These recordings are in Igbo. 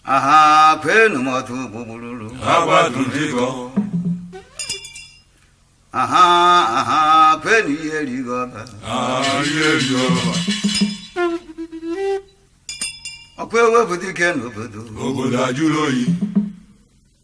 aha kwenu m otu gbugbululu agbaduligo aha aha kwenu ihe rigo ọba ayelioba ọkwa ewepụ dike n'obodo obodo ajụrụ oyi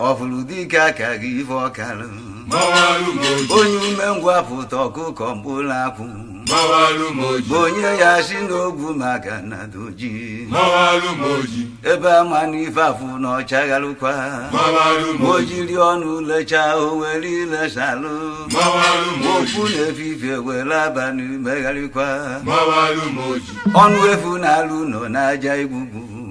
ọfụrụ dike aka gị ife ọkalụ onye umengwụ apụta ọkụkọ mkpụrụ akwụ bụ onye ya si n'ogwu maka na doji ebe ama na ife afụ na ọchagharụkwa o jiri ọnụ lechaa o were ile salụ okwu n'efifie were abalị megharịkwa ọnụ efu na-alụ nọ n'aja igbugbu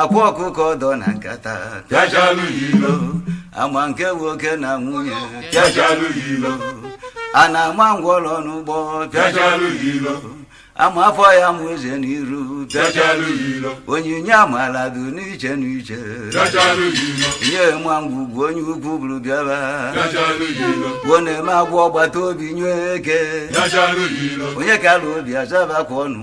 akwa ọkụkọ dọ na nkata pịachalụ ya ilo ama nke nwoke na nwunye pịachalụ ya ilo a na-ama ngwọrọ n'ụgbọ pịachalụ ya ilo ama afọ ya mụ eze n'iru pịachalụ ya ilo onyinye amala dị n'iche n'iche pịachalụ ya ilo onye ma ngwugwu onye ukwu buru bịaba pịachalụ ya ilo gwuo na-eme agwọ ọgbata obi nye eke pịachalụ ya ilo onye kala obi azaba ka ọnụ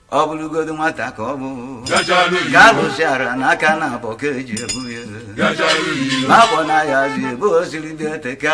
ọ bụrụgodu nwata ka ọ bụ ka alụsị ara n'aka naabọ ka eji ebu ya ma abọ na ya zi ebe o siri bịa eteka